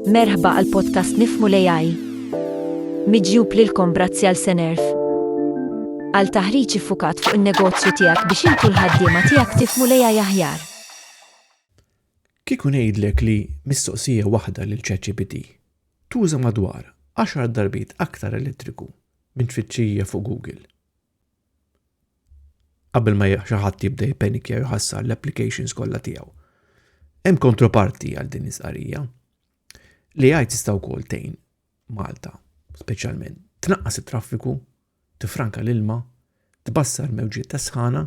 Merħba għal podcast Nifmu l-AI. Miġjub lilkom brazzi għal Senerf. Għal taħriġ fukat fuq il-negozju tijak biex intu l-ħaddima tijak tifmu l-AI aħjar. Kikun ngħidlek li mistoqsija waħda lil ChatGPT tuża madwar 10 darbit aktar elettriku minn tfittxija fuq Google. Qabel ma xi ħadd jibda jippenikja jħassar l-applications kollha tiegħu. Hemm kontroparti għal din is-qarija. Li għaj tista' wkoll tgħin Malta, speċjalment tnaqqas it-traffiku, tifranka l-ilma, tbassar mewġiet ta' sħana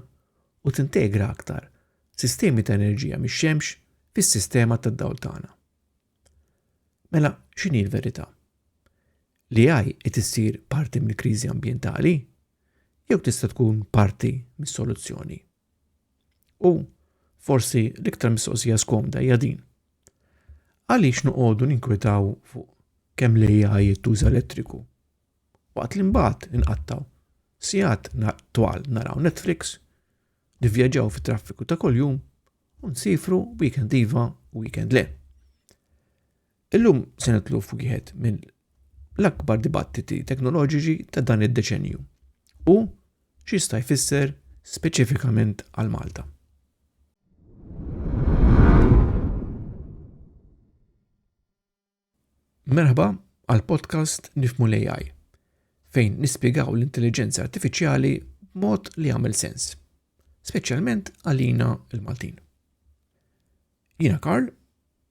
u tintegra aktar sistemi ta' enerġija mix-xemx fis-sistema tad-dawl tagħna. Mela, x'inhi l-verità? L-AI qed issir parti mill-kriżi ambjentali jew tista' tkun parti mis-soluzzjoni? U forsi l-iktar mistoqsija skomda hija din. Għaliex noqogħdu ninkwetaw fuq kemm l-AI jittuża elettriku? Waqt li mbagħad inqattaw sigħat twal naraw Netflix, nivvjaġġaw fit-traffiku ta' kuljum u nsifru weekend iva u weekend le. Illum se nitlu f'wieħed minn l-akbar dibattiti teknoloġiċi ta' dan id-deċenju u x'jista' jfisser speċifikament għal Malta. Merħba għal podcast Nifmu l-AI, fejn nispjegaw l-intelligenza artifiċjali b'mod li jagħmel sens. speċjalment għalina l-Maltin. Jiena Karl,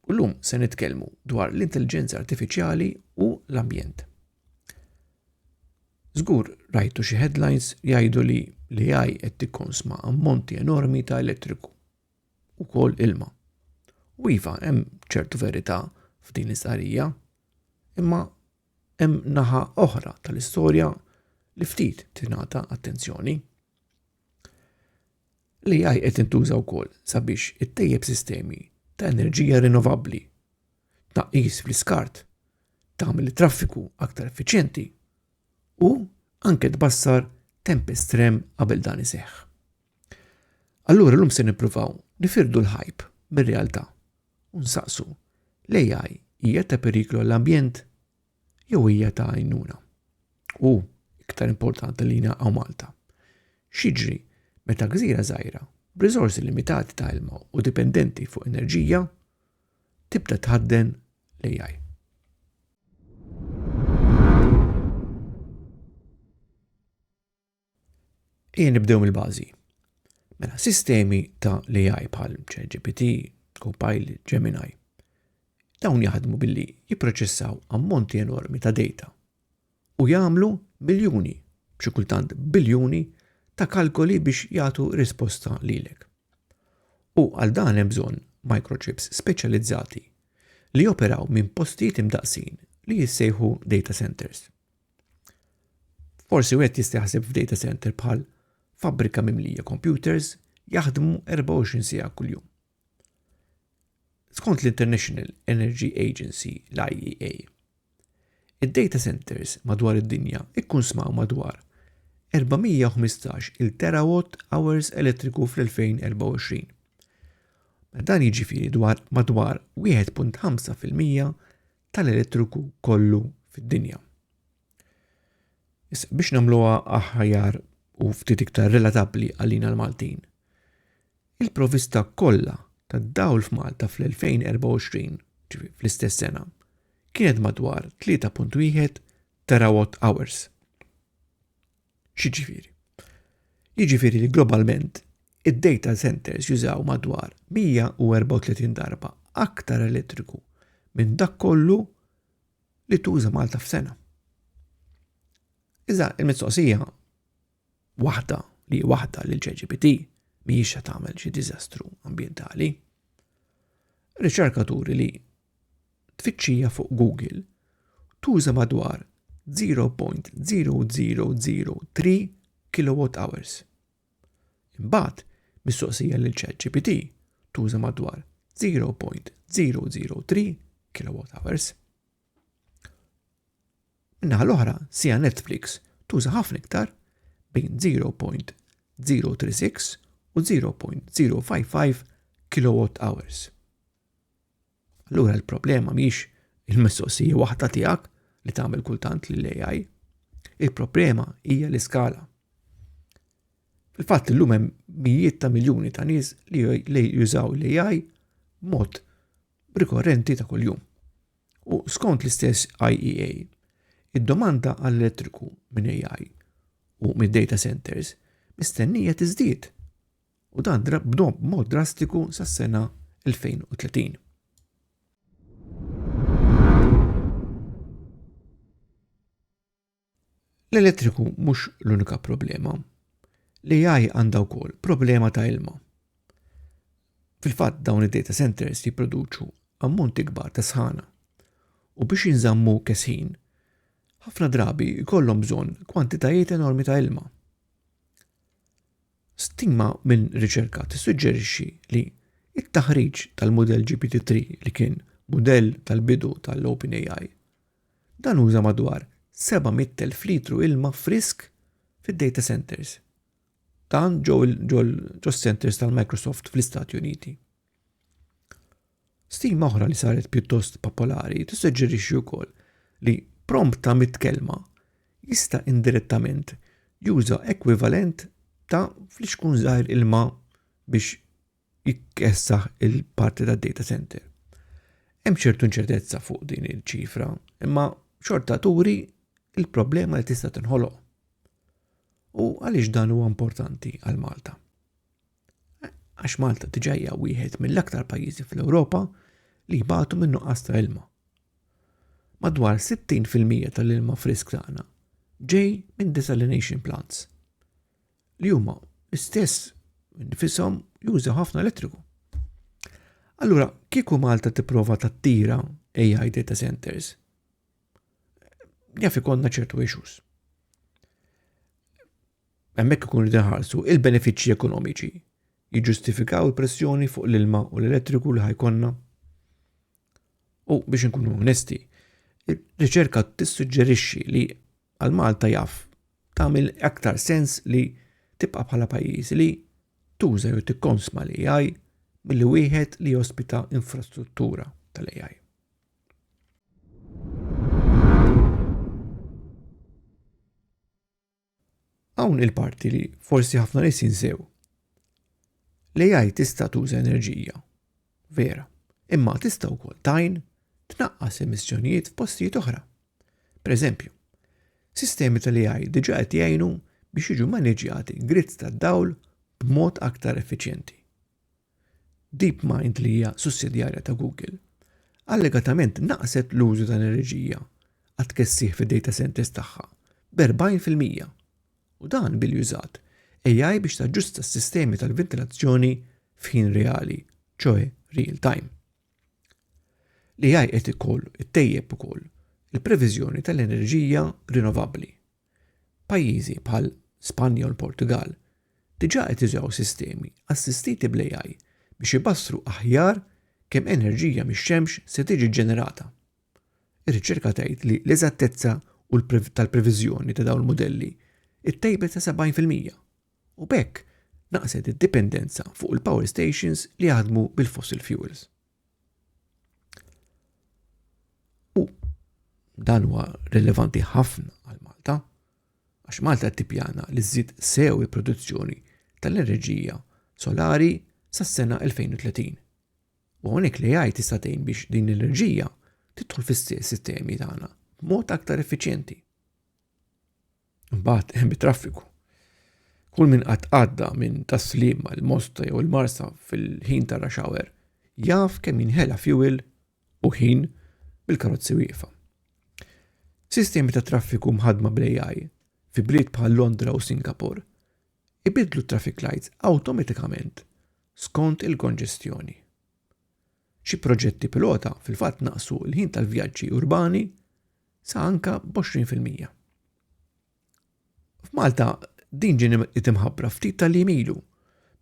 u llum se nitkellmu dwar l-intelligenza artifiċjali u l-ambjent. Żgur rajtu xi headlines jgħidu li li għaj qed tikkonsma ammonti enormi ta' elettriku u kol ilma. U iva, hemm ċertu verità f'din l-istqarrija, imma Hemm naħa oħra tal-istorja li ftit tingħata attenzjoni. L-AI qed intuża wkoll sabiex ittejjeb sistemi ta' enerġija rinnovabbli, tnaqqis fl-iskart, tagħmel it-traffiku aktar effiċjenti u anke tbassar temp estrem qabel dan iseħħ. Allura llum se nippruvaw nifirdu l-ħajb mir-realtà u nsaqsu l-AI hija ta' periklu għall-ambjent jew hija ta' għajnuna. U iktar importanti li jina għaw Malta. Xiġri meta gżira żgħira b'riżorsi limitati ta' ilma u dipendenti fuq enerġija tibda tħadden l-AI. Ejja nibdew mill-bażi. Mela, sistemi ta' l-AI bħal ChatGPT, Copilot, Gemini, dawn jaħdmu billi jipproċessaw ammonti enormi ta' data u jagħmlu miljuni, b'xi kultant biljuni ta' kalkoli biex jagħtu risposta lilek. U għal dan hemm bżonn microchips speċjalizzati li joperaw minn postijiet imdaqsin li jissejħu data centers. Forsi wieħed jista' jaħseb f'data center bħal fabbrika mimlija computers jaħdmu 24 siegħa kuljum. Skont l-International Energy Agency, l-IEA, id-data centers madwar id-dinja ikkun smaw madwar 415 il terawatt hours elettriku fl-2024. Dan jiġifieri dwar madwar 1.5% tal-elettriku kollu fid-dinja. Issa biex nagħmluha aħjar u ftit iktar relatabbli għalina l-Maltin, il-provista kollha tad-dawl f'Malta fl-2024, ġifi fl-istess sena, kienet madwar 3.1 terawatt hours. X'jiġifieri? Jiġifieri li globalment id-data centers jużaw madwar 134 darba aktar elettriku minn dak kollu li tuża Malta f'sena. Iżda il-mistoqsija waħda li waħda li l-ċeġibiti mhijiex se tagħmel xi diżastru ambjentali. Riċerkaturi li tfittxija fuq Google tuża madwar 0.0003 kWh. Imbagħad, mistoqsija lil ChatGPT tuża madwar 0.003 kWh. Minnaħa l-oħra, sija Netflix tuża ħafna iktar bejn 0.036 u 0.055 kWh. Allura l-problema mhix il-mistoqsija waħda tiegħek li tagħmel kultant li l-AI. Il-problema hija l-iskala. Fil-fatt illum hemm mijiet ta' miljuni ta' nies li jużaw l-AI mod rikorrenti ta' kuljum. U skont l-istess IEA, id-domanda għall-elettriku minn AI u mid-data centers mistennija tiżdied u dan b'mod drastiku sas-sena 2030. L-elettriku mhux l-unika problema. L-AI għandha wkoll problema ta' ilma. Fil-fatt dawn id-data centers jipproduċu ammonti kbar ta' sħana u biex jinżammu kesħin ħafna drabi jkollhom bżonn kwantitajiet enormi ta' ilma. Stima minn riċerka tissuġġerixxi li t-taħriġ tal-mudell GPT-3 li kien mudell tal-bidu tal-OpenAI, dan uża madwar 700,000 litru ilma frisk fid-data centers. Dan ġew ġos-centers tal-Microsoft fl-Istati Uniti. Stima oħra li saret pjuttost popolari tissuġġerixxi wkoll li prompt ta' mit-kelma jista' indirettament juża ekwivalent ta' flixkun żgħir ilma biex jkessaħ il-parti tad-data center. Hemm ċertu inċertezza fuq din iċ-ċifra, imma xorta turi il-problema li tista' tinħoloq. U għaliex dan huwa importanti għal Malta? Għax Malta tiġajja wieħed mill-aktar pajjiżi fl-Ewropa li jbatu minn nuqqas ta' ilma. Madwar 60% tal-ilma frisk tagħna ġej minn desalination plants li huma l-istess nifisom juża ħafna elettriku. Allura, kieku Malta tipprova tattira AI data centers, jaf ikonna ċertu issues. Hemmhekk ikunu qed inħarsu il-benefiċċji ekonomiċi jiġġustifikaw il-pressjoni fuq l-ilma u l-elettriku li ħajkonna. U biex inkunu onesti, ir-riċerka tissuġġerixxi li għal Malta jaf tagħmel aktar sens li tibqa' bħala pajjiż li tuża jew tikkonsma l-AI milli wieħed li jospita infrastruttura tal-AI. Hawn il-parti li forsi ħafna nies jinsew. L-AI tista' tuża enerġija, vera, imma tista' wkoll tajn tnaqqas emissjonijiet f'postijiet oħra. Per eżempju, sistemi tal-AI diġa qed jgħinu biex jiġu maniġjati grids tad-dawl b'mod aktar effiċjenti. DeepMind li hija sussidjarja ta' Google, allegatament naqqset l-użu ta' enerġija għat-tkessiħ fid-data centers tagħha b'40 fil-mija, u dan billi użat AI biex taġġusta s-sistemi tal-ventilazzjoni f'ħin reali, ċoe real time. L-AI qed ukoll ittejjeb ukoll il-previżjoni tal-enerġija rinnovabbli. Pajjiżi bħal Spanja u l-Portugall diġà qed jużaw sistemi assistiti bl-AI biex ibassru aħjar kemm enerġija mix-xemx se tiġi ġġenerata. Ir-riċerka tgħid li l-eżattezza tal-previżjoni ta' dawn il-mudelli ttejbet sa 70 fil-mija, u b'hekk naqset id-dipendenza fuq il-power stations li jaħdmu bil-fossil fuels. U dan huwa rilevanti ħafna għal Malta, għax Malta tippjana li żżid sew il-produzzjoni tal-enerġija solari sas-sena 2030. U hawnhekk li jgħid tista' tgħin biex din l-enerġija tidħol fis-sistemi tagħna b'mod aktar effiċjenti. Mbagħad hemm it-traffiku. Kull min qatt għadda minn taslim għal mosta jew il-marsa fil-ħin ta' rush hour jaf kemm jinħela fuel u ħin bil-karozzi wieqfa. Sistemi ta' traffiku mħadma bl-AI fi bliet bħal Londra u Singapore ibidlu traffic lights awtomatikament skont il-konġestjoni. Xi proġetti pilota fil-fatt naqsu l-ħin tal-vjaġġi urbani sa anka b'20 fil-mija. F'Malta din ġieni itimħabbra ftit tal-jiem ilu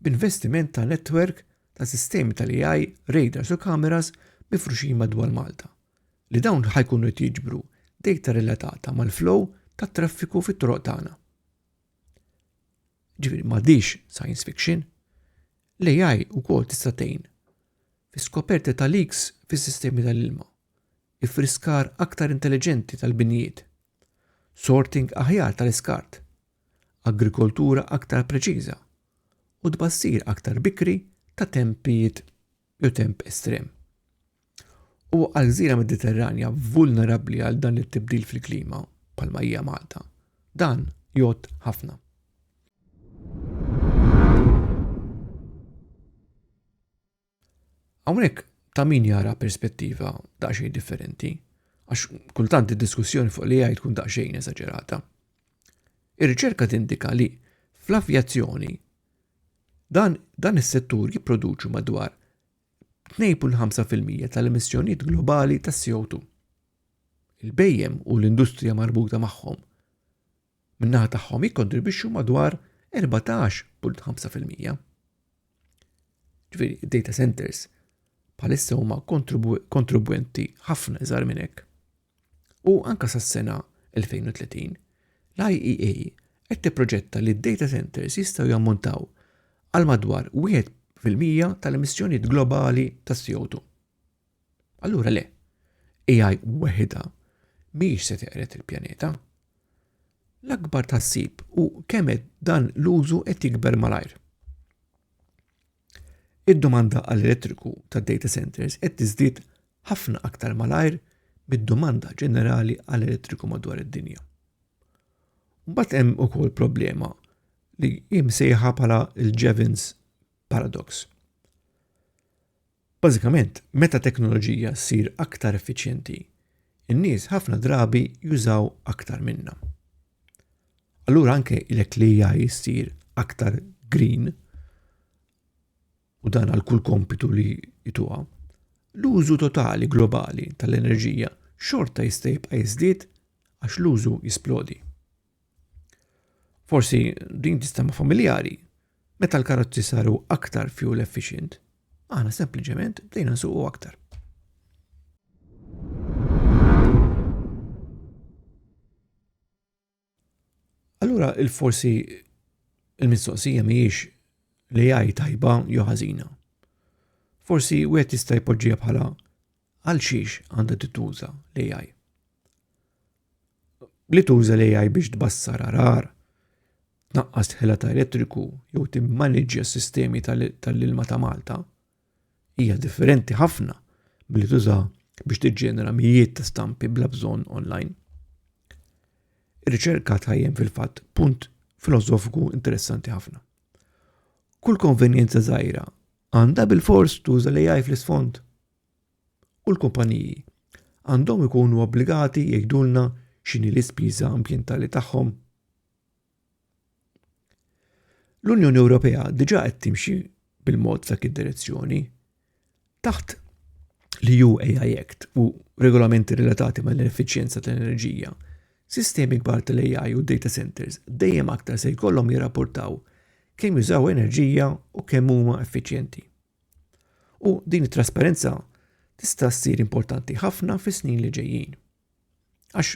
b'investiment ta' netwerk ta' sistemi tal-AI, radars u kameras mifruxin madwar Malta li dawn ħajkunu qed jiġbru dejta relatata mal-flow tat-traffiku fit-toroq tagħna. Ġifieri m'għadix science fiction. L-AI wkoll tista' tgħin fis-skoperti ta' leaks fis-sistemi tal-ilma iffriskar aktar intelliġenti tal-binjiet, sorting aħjar tal-iskart, agrikoltura aktar preċiża, u tbassir aktar bikri ta' tempijiet jew temp estrem. Huwa għal gżira Mediterranja vulnerabbli għal dan it-tibdil fil-klima bħalma hija Malta. Dan jgħodd ħafna. Hawnhekk ta' min jara perspettiva daqsxejn differenti, għax kultant id-diskussjoni fuq l-AI tkun daqsxejn eżaġerata. Ir-riċerka tindika li fl-avjazzjoni dan, dan is-settur jipproduċu madwar 2.5% tal-emissjonijiet globali ta' CO2. Il-bejjem u l-industrija marbuta magħhom min-naħa tagħhom jikkontribwixxu madwar 14.5 fil-mija. Ġifieri, data centers bħalissa huma kontribwenti ħafna iżgħar minn hekk. U anka sas-sena 2030, l-IEA qed tipproġetta li d-data centers jistgħu jammontaw għal madwar 1% tal-emissjonijiet globali tas-CO2. Allura le, AI weħida mhijiex se teqret il-pjaneta. L-akbar tassib u kemm dan l-użu qed jikber malajr. Id-domanda għall-elettriku tad data centers qed tiżdied ħafna aktar malajr mid-domanda ġenerali għall-elettriku madwar id-dinja. Mbagħad hemm ukoll problema li jimsejħa bħala l-Jevons paradox. Bażikament, meta teknoloġija ssir aktar effiċjenti, in-nies ħafna drabi jużaw aktar minnha. Allura anke ilek li AI ssir aktar green u dan għal kull kompitu li jituha, l-użu totali globali tal-enerġija xorta jista' jibqa' jiżdied għax l-użu jisplodi. Forsi din tista' ma' familjari, meta l-karozzi saru aktar fuel efficient, aħna sempliċement bdejna nsuqu aktar. Allura il-forsi il-mistoqsija mhijiex li jgħid tajba jew ħażina. Forsi wieħed jista' jpoġġiha bħala Għal xiex għandha tituża l-AI? Li tuża l-AI biex tbassar arar, tnaqqas ħela ta' elettriku jew timmaniġja s-sistemi tal-ilma ta' Malta hija differenti ħafna billi tuża biex tiġġenera mijiet ta' stampi bla bżonn online. Ir-riċerka tajjem fil-fatt punt filosofiku interessanti ħafna. Kull konvenjenza żgħira għandha bil-fors tuża l-AI fl-isfond u l-kumpaniji għandhom ikunu obbligati jgħidulna x'inhi l-ispiża ambjentali tagħhom. L-Unjoni Ewropea diġà qed timxi bil-mod f'dak id-direzzjoni. Taħt li ju AI Act u regolamenti relatati mal effiċjenza tal-enerġija, sistemi kbar tal-AI u data centers dejjem aktar se jkollhom jirrapportaw kemm jużaw enerġija u kemm huma effiċjenti. U din it-trasparenza tista' ssir importanti ħafna fis-snin li ġejjin. Għax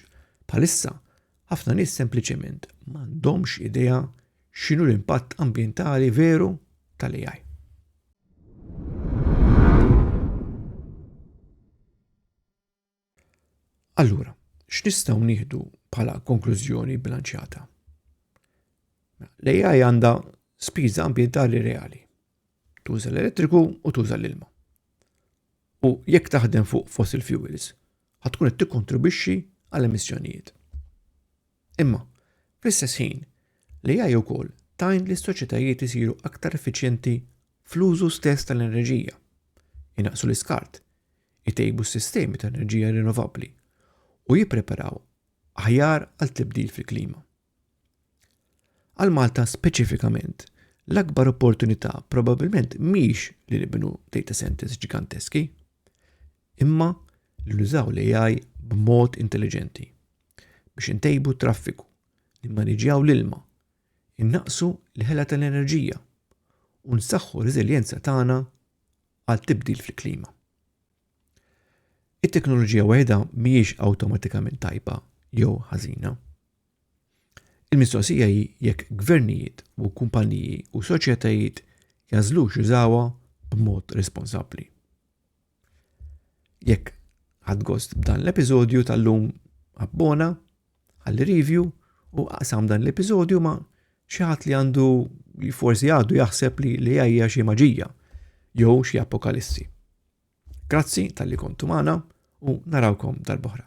bħalissa ħafna nies sempliċement m'għandhomx idea x'inhu l-impatt ambjentali veru tal-AI. Allura, x'nistgħu nieħdu bħala konklużjoni bilanċjata? L-AI għandha spiża ambjentali reali. Tuża l-elettriku u tuża l-ilma. U jekk taħdem fuq fossil fuels, ħatkun qed tikkontribwixxi għal emissjonijiet. Imma, fl-istess ħin, l-AI wkoll tajn li s-soċjetajiet isiru aktar effiċjenti fl-użu stess tal-enerġija, inaqsu l-iskart, itejbu s-sistemi ta' enerġija rinnovabbli u jippreparaw aħjar għal tibdil fil-klima. Għal Malta speċifikament, l-akbar opportunità probabbilment mhix li nibnu data centers ġiganteski, imma li nużaw l-AI b'mod intelligenti biex intejbu traffiku, nimmaniġjaw l-ilma, innaqsu l-ħela tal-enerġija u nsaħħu r-reżiljenza tagħna għal tibdil fil-klima. It-teknoloġija waħedha mhijiex awtomatikament tajba jew ħażina. Il-mistoqsija hi jekk gvernijiet u kumpaniji u soċjetajiet jażlux jużawha b'mod responsabbli. Jekk ħadgost b'dan l-episodju tal-lum abbona, Ħalli review u aqsam dan l-episodju ma' xi ħadd li għandu li forsi għadu jaħseb li li hija xi maġija jew xi apokalissi. Grazzi tal-li kontu magħna u narawkom dal-boħra.